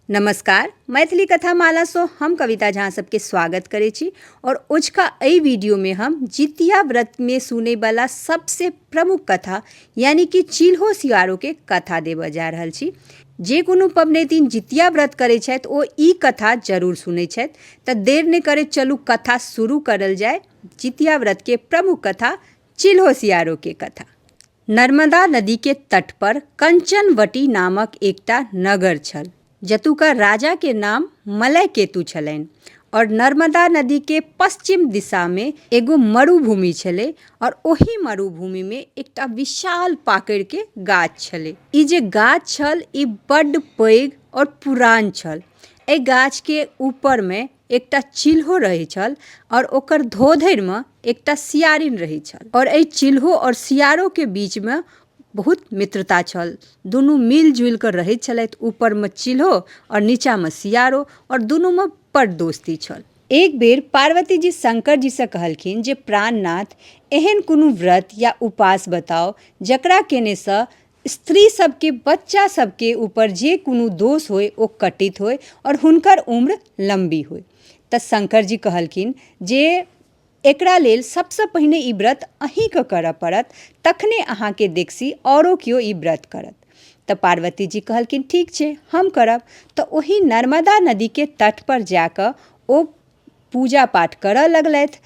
नमस्कार मैथिली कथा मालासँ हम कविता झा सबके स्वागत करै छी आओर ओझका एहि वीडियोमे हम जितिया व्रतमे सुनैवला सबसँ प्रमुख कथा यानी कि चिल्हो सियारोके कथा देबऽ जा रहल छी जे कोनो पबनैतिन जितिया व्रत करै छथि ओ ई कथा जरूर सुनै छथि तऽ देर नहि करै चलू कथा शुरू करल जाय जितिया व्रतके प्रमुख कथा चिल्हो सियारोके कथा नर्मदा नदीके तटपर कञ्चनवटी नामक एकटा नगर छल जतुका राजाके नाम मलयकेतु छलनि आओर नर्मदा नदीके पश्चिम दिशामे एगो मरुभूमि छलै आओर ओहि मरुभूमिमे एकटा विशाल पाकड़िके गाछ छलै ई जे गाछ छल ई बड्ड पैघ आओर पुरान छल एहि गाछके ऊपरमे एकटा चिल्हो रहै छल आओर ओकर धोधरिमे एकटा सियारिन रहै छल आओर एहि चिल्हो आओर सियारोके बीचमे बहुत मित्रता छल दुनू मिल जुलि कऽ रहै छलथि ऊपरमे चिल्हो आओर नीचाँमे सियारो आओर दुनूमे बड़ दोस्ती छल एक बेर पार्वती जी शंकर जी सँ कहलखिन जे प्राणनाथ एहन कोनो व्रत या उपास बताउ जकरा केने सँ स्त्री सबके बच्चा सबके ऊपर जे कोनो दोष होइ ओ कटित होइ आओर हुनकर उम्र लम्बी होइ तऽ शंकर जी कहलखिन जे एकरा लेल सबसँ पहिने ई व्रत अहींके करऽ पड़त तखने अहाँके देखसी औरो केओ ई व्रत करत तऽ पार्वती जी कहलखिन ठीक छै हम करब तऽ ओहि नर्मदा नदीके तटपर जाकऽ ओ पूजा पाठ करय लगलथि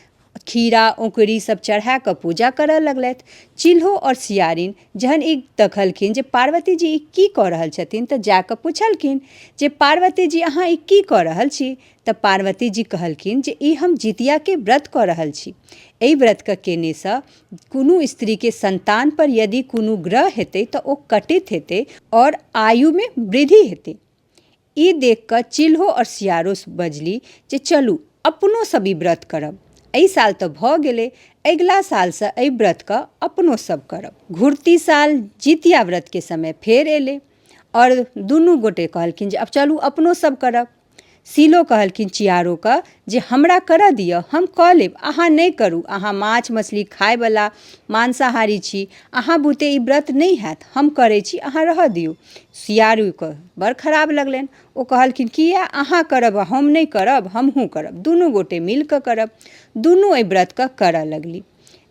खीरा औकड़ी सब चढ़ा कऽ पूजा करय लगलथि चिल्हो आओर सियारिन जहन ई देखलखिन जे पार्वती जी ई की कऽ रहल छथिन तऽ जा कऽ पुछलखिन जे पार्वती जी अहाँ ई की कऽ रहल छी तऽ पार्वती जी कहलखिन जे ई हम जितियाके व्रत कऽ रहल छी एहि व्रतके केनेसँ कोनो स्त्रीके सन्तानपर यदि कोनो ग्रह हेतै तऽ ओ कटित हेतै आओर आयुमे वृद्धि हेतै ई देख कऽ चिल्हो और सियारो बजली जे चलू अपनो सब ई व्रत करब। एहि साल तऽ भऽ गेलै, अगिला साल सँ एहि व्रत कऽ अपनो सब करब। घुरती साल जितिया व्रत के समय फेर एलै और दुनू गोटे कहलखिन जे अब चलू अपनो सब करब। सिल्हो कहलखिन चियारो कऽ जे हमरा करऽ दिअ हम कऽ लेब अहाँ नहि करू अहाँ माछ मछली खायवला मांसाहारी छी अहाँ बुते ई व्रत नहि हैत हम करै छी अहाँ रहऽ दियौ सियारूके बड़ खराब लगलनि ओ कहलखिन किया अहाँ करब हम नहि करब हमहूँ करब दुनू गोटे मिलकऽ करब दुनू एहि व्रतके करऽ लगली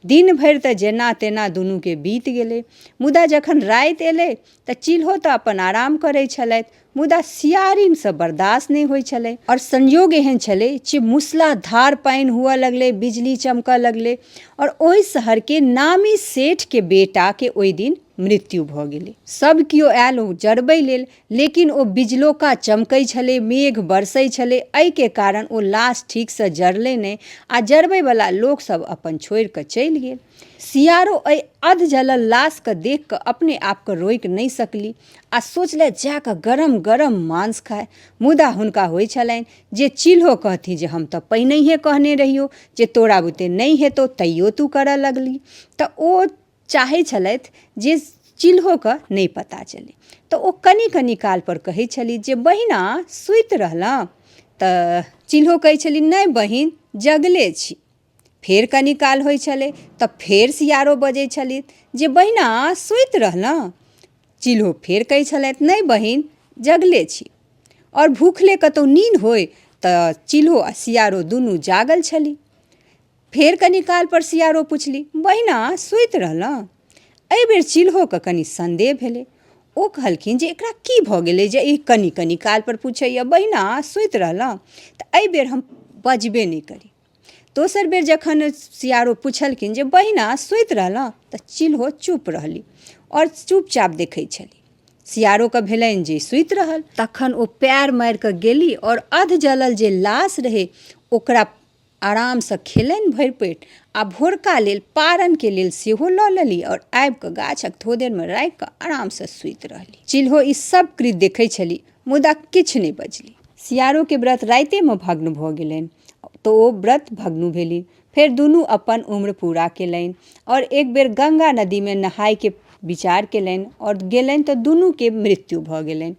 दिन भरि तऽ जेना तेना दुनूके बीत गेलै मुदा जखन राति एलै तऽ चील्हो तऽ अपन आराम करै छलथि मुदा सियारिन से बर्दाश्त नहि होइ छलै आओर संयोग एहन छलै जे मूसलाधार पानि हुअ लगलै बिजली चमकऽ लगलै आओर ओहि शहरके नामी सेठके बेटाके ओहि दिन मृत्यु भऽ गेलै सभ केओ आयल ओ जरबै लेल लेकिन ओ बिजलोका चमकै छलै मेघ बरसै छलै एहिके कारण ओ लाश ठीकसँ जरलै नहि आ जरबैवला लोकसभ अपन छोड़ि कऽ चलि गेल सियारो एहि अधजलल लाशके देख कऽ अपने आपके रोकि नहि सकली आ सोचलथि जा कऽ गरम गरम माँसु खाइ मुदा हुनका होइ छलनि जे चील्हो कहथि जे हम तऽ पहिनहिये कहने रहियौ जे तोरा बुते नहि हेतौ तैयो तू करऽ लगली तऽ ओ चाहै छलथि जे चील्होके नहि पता चलै तऽ ओ कनि कनि काल पर कहै छली जे बहिना सुति रहलहुँ तऽ चील्हो कहै छली नहि बहिन जगले छी फेर कनी काल होइ छलै तऽ फेर सियारो बजै छलथि जे बहिना सुति रहलहुँ चिल्हो फेर कहै छलथि नहि बहिन जगले छी आओर भुखले कतौ नीन होइ तऽ चिल्हो आओर सियारो दुनू जागल छलै फेर कनी कालपर सियारो पुछली बहिना सुति रहलहुँ अइ बेर चिल्होके कनी सन्देह भेलै ओ कहलखिन जे एकरा की भऽ गेलै जे ई कनी कनी कालपर पुछैए बहिना सुति रहलहुँ तऽ अइ बेर हम बजबे नहि करी दोसर बेर जखन सियारो पुछलखिन जे बहिना सुति रहलहुँ तऽ चिल्हो चुप रहली आओर चुपचाप देखै छली सियारोके भेलनि जे सुति रहल तखन ओ पैर मारि कऽ गेली आओर अध जलल जे लाश रहै ओकरा आरामसँ खेलनि भरि पेट आ भोरका लेल पारनके लेल सेहो लऽ लेली आओर आबि कऽ गाछक थोदेरमे राखि कऽ आरामसँ सुति रहली चिल्हो ई सब कृत देखै छली मुदा किछु नहि बजली सियारोके व्रत राइतेमे भग्न भऽ गेलनि तऽ ओ व्रत भग्न भेली फेर दुनू अपन उम्र पूरा केलनि आओर एक बेर गंगा नदीमे नहायके विचार केलनि आओर गेलनि तऽ दुनूके मृत्यु भऽ गेलनि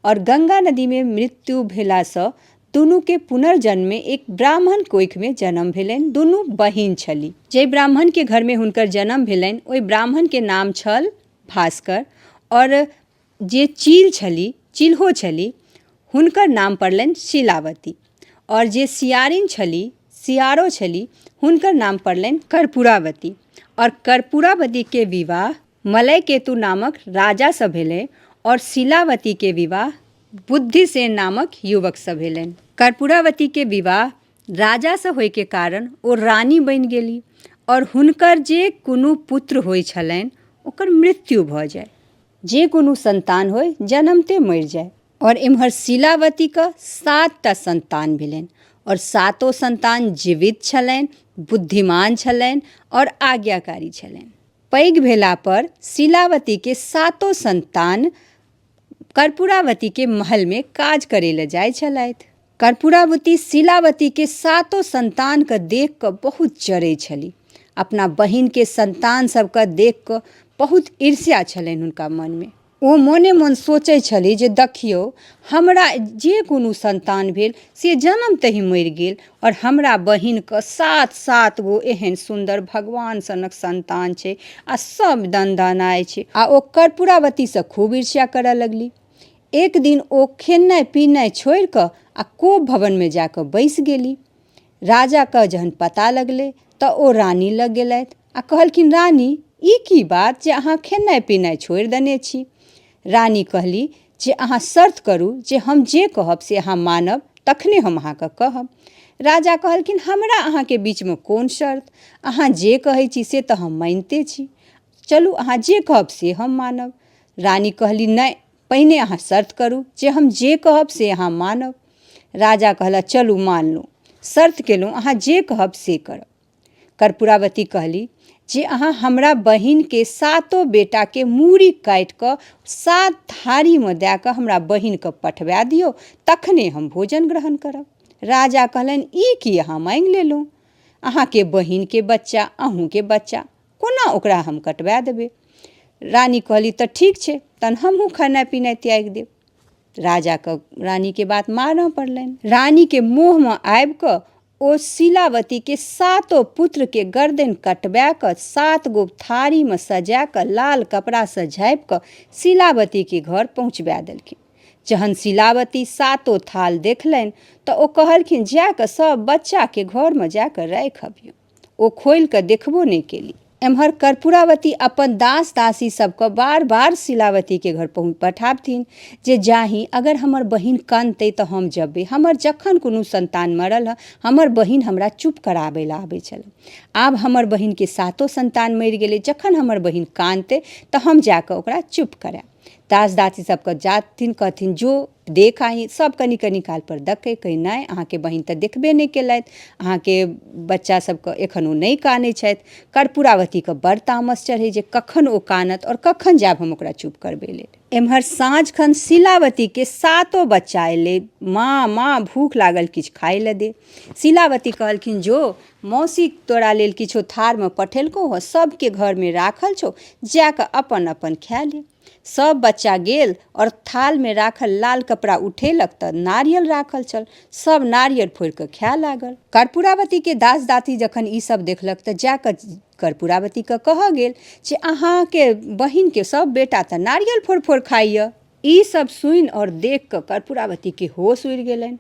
आओर गंगा नदीमे मृत्यु भेलासँ दुनूके पुनर्जन्ममे एक ब्राह्मण कोखिमे जन्म भेलनि दुनू बहिन छली जाहि ब्राह्मणके घरमे हुनकर जन्म भेलनि ओहि ब्राह्मणके नाम छल भास्कर आओर जे चील छली चिलहो छली हुनकर नाम पड़लनि शिलावती आओर जे सियारिन छली सियारो छली हुनकर नाम पड़लनि कर्पूरावती आओर कर्पूरावतीके विवाह मलय केतु नामक राजासँ भेलै आओर शिलावतीके विवाह बुद्धिसेन नामक युवकसँ भेलनि कर्पूरावतीके विवाह राजासँ होइके कारण ओ रानी बनि गेली आओर हुनकर जे कोनो पुत्र होइ छलनि ओकर मृत्यु भऽ जाइ जे कोनो सन्तान होइ जनमते मरि जाइ आओर एम्हर शीलावतीके सातटा सन्तान भेलनि आओर सातो सन्तान जीवित छलनि बुद्धिमान छलनि आओर आज्ञाकारी छलनि पैघ भेलापर शीलावतीके सातो सन्तान कर्पूरावतीके महलमे काज करैलए जाइ छलथि कर्पूरावती शिलावतीके सातो सन्तानके देखिकऽ बहुत जरै छली अपना बहिनके सन्तान सबके देखिकऽ बहुत ईर्ष्या छलनि हुनका मनमे ओ मोने मोन सोचै छली जे देखियौ हमरा जे कोनो सन्तान भेल से जनमतहि मरि गेल आओर हमरा बहिनके सात सात गो एहन सुन्दर भगवान सनक सन्तान छै आओर सब दनदनाइ छै आओर ओ कर्पूरावतीसँ खूब ईर्ष्या करऽ लगली एक दिन ओ खेनाइ पीनाइ छोड़ि कऽ आ कोप भवनमे जा कऽ बैसि गेली राजाके जहन पता लगलै तऽ ओ रानी लग गेलथि आ कहलखिन रानी ई की बात जे अहाँ खेनाइ पीनाइ छोड़ि देने छी रानी कहली जे अहाँ शर्त करू जे हम जे कहब से अहाँ मानब तखने हम अहाँके कहब राजा कहलखिन हमरा अहाँके बीचमे कोन शर्त अहाँ जे कहै छी से तऽ हम मानिते छी चलू अहाँ जे कहब से हम मानब रानी कहली नहि पहिने अहाँ शर्त करू जे हम जे कहब से अहाँ मानब राजा कहला चलू मानलहुँ शर्त केलहुँ अहाँ जे कहब से करब कर्पूरावती कहली जे अहाँ हमरा बहिनके सातो बेटाके मूड़ी काटि कऽ सात थारीमे दए कऽ हमरा बहिनके पठबा दियौ तखने हम भोजन ग्रहण करब राजा कहलनि ई की अहाँ माँगि लेलहुँ अहाँके बहिनके बच्चा अहूँके बच्चा कोना ओकरा हम कटबा देबै रानी कहली तऽ ठीक छै तहन हमहूँ खेनाइ पिनाइ त्यागि देब राजाके रानीके बात मानऽ पड़लनि रानीके मोहमे आबि कऽ ओ शिलावतीके सातो पुत्रके गर्दन कटबा कऽ सात गो थारीमे सजा कऽ लाल कपड़ासँ झाँपि कऽ शिलावतीके घर पहुँचबा देलखिन जहन शिलावती सातो थाल देखलनि तऽ ओ कहलखिन जा कऽ सभ बच्चाके घरमे जा कऽ राखि अबियौ ओ खोलि कऽ देखबो नहि केली एम्हर कर्पूरावती अपन दास दासी सबके बार बार शिलावतीके घर पहुँच पठाबथिन जे जाही अगर हमर बहिन कनतै तऽ हम जेबै हमर जखन कोनो संतान मरल हँ हमर बहिन हमरा चुप कराबै लए आबै छल आब हमर बहिनके सातो संतान मरि गेलै जखन हमर बहिन कानतै तऽ हम जाकऽ ओकरा चुप करायब दास दासी सबके जाथिन कहथिन जो देख आही सब कनि कनि काल पर देखै कहै नहि अहाँके बहिन तऽ देखबे नहि केलथि अहाँके बच्चा सबके एखन ओ नहि कानै छथि कर्पूरावतीके बड़ तामस चढ़ै जे कखन ओ कानत आओर कखन जायब हम ओकरा चुप करबै लेल एम्हर साँझ खन शिलावतीके सातो बच्चा एलै माँ माँ भूख लागल किछु खाय लए दे शिलावती कहलखिन जो मौसी तोरा लेल किछो थारमे पठेलकौ हँ सबके घरमे राखल छौ जाकऽ अपन अपन खाय ले सभ बच्चा गेल आओर थालमे राखल लाल कपड़ा उठेलक तऽ नारियल राखल छल सभ नारियल फोड़ि कऽ खाए लागल कर्पूरावतीके दास दासी जखन ई सभ देखलक तऽ जा कऽ कर्पूरावतीके कहऽ गेल जे अहाँके बहिनके सभ बेटा तऽ नारियल फोड़ि फोड़ि खाइए ई सभ सुनि आओर देख कऽ कर्पूरावतीके होश उड़ि गेलनि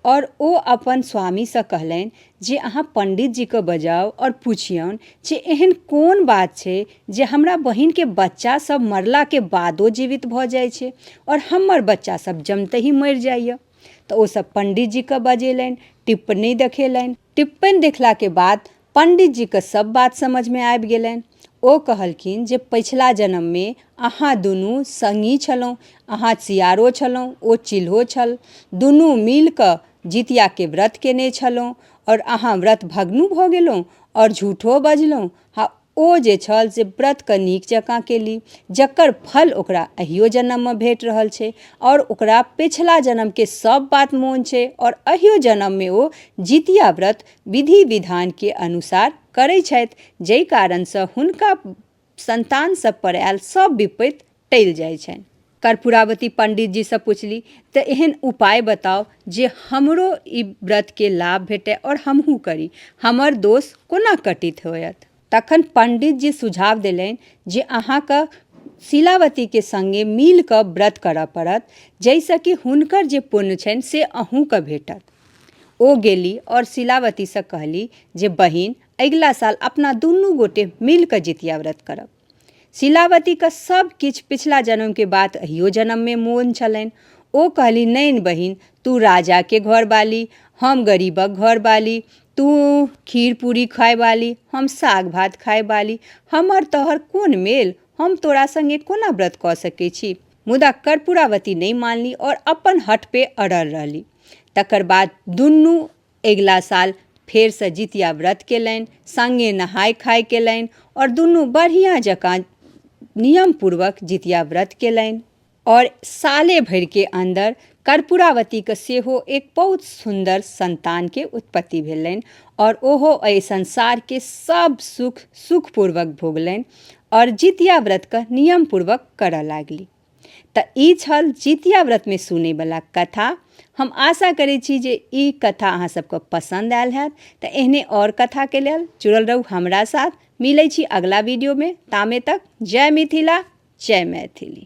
आओर ओ अपन स्वामीसँ कहलनि जे अहाँ पण्डितजीके बजाउ आओर पुछियौन जे एहन कोन बात छै जे हमरा बहिनके बच्चा सब मरलाके बादो जीवित भऽ जाइ छै आओर हमर बच्चा सब जमतहि मरि जाइए तऽ ओ सब पण्डितजीके बजेलनि टिप्पणी देखेलनि टिप्पणि देखलाके बाद पण्डितजीके सब बात समझमे आबि गेलनि ओ कहलखिन जे पछिला जन्ममे अहाँ दुनू सङ्गी छलहुँ अहाँ सियारो छलहुँ ओ चिल्हो छल दुनू मिलकऽ जितियाके व्रत केने छलहुँ आओर अहाँ व्रत भग्नो भऽ गेलहुँ आओर झूठो बजलहुँ ओ जे छल से व्रतके नीक जकाँ केली जकर फल ओकरा अहियो जनममे भेट रहल छै आओर ओकरा पछिला जनमके सब बात मोन छै आओर अहियो जनममे ओ जितिया व्रत विधि विधानके अनुसार करै छथि जाहि कारणसँ हुनका सन्तान सबपर आयल सब विपति टलि जाइ छनि कर्पूरावती पण्डितजीसँ पुछली तऽ एहन उपाय बताउ जे हमरो ई व्रतके लाभ भेटै आओर हमहूँ करी हमर दोष कोना कटित होयत तखन पण्डितजी सुझाव देलनि जे अहाँके शिलावतीके सङ्गे मिलकऽ व्रत करऽ पड़त जाहिसँ कि हुनकर जे पुण्य छनि से अहूँके भेटत ओ गेली आओर शिलावतीसँ कहली जे बहिन अगिला साल अपना दुनू गोटे मिलकऽ जितिया व्रत करब शीलावतीके सब किछु पिछला जन्मके बात अहियो जन्ममे मोन छलनि ओ कहली नहि बहिन तू राजाके घर बाली हम गरीबक घर बाली तू खीर पूरी खाय बाली हम साग भात खाय बाली हमर तोहर कोन मेल हम तोरा संगे कोना व्रत कऽ सकै छी मुदा कर्पूरावती नहि मानली आओर अपन हट पे अड़ल रहली तकर बाद दुनू अगिला साल फेरसँ जितिया व्रत केलनि सङ्गे नहाय खाय केलनि आओर दुनू बढ़िआँ जकाँ नियमपूर्वक जितिया व्रत केलनि आओर साले भरिके अन्दर कर्पूरावतीके सेहो एक बहुत सुन्दर सन्तानके उत्पत्ति भेलनि आओर ओहो एहि संसारके सब सुख सुखपूर्वक भोगलनि आओर जितिया व्रतके नियमपूर्वक करऽ लागली तऽ ई छल जितिया व्रतमे सुनैवला कथा हम आशा करै छी जे ई कथा अहाँ सबके पसन्द आयल हैत तऽ एहने आओर कथाके लेल जुड़ल रहू हमरा साथ मिलै छी अगला वीडियोमे तामे तक जय मिथिला जय मैथिली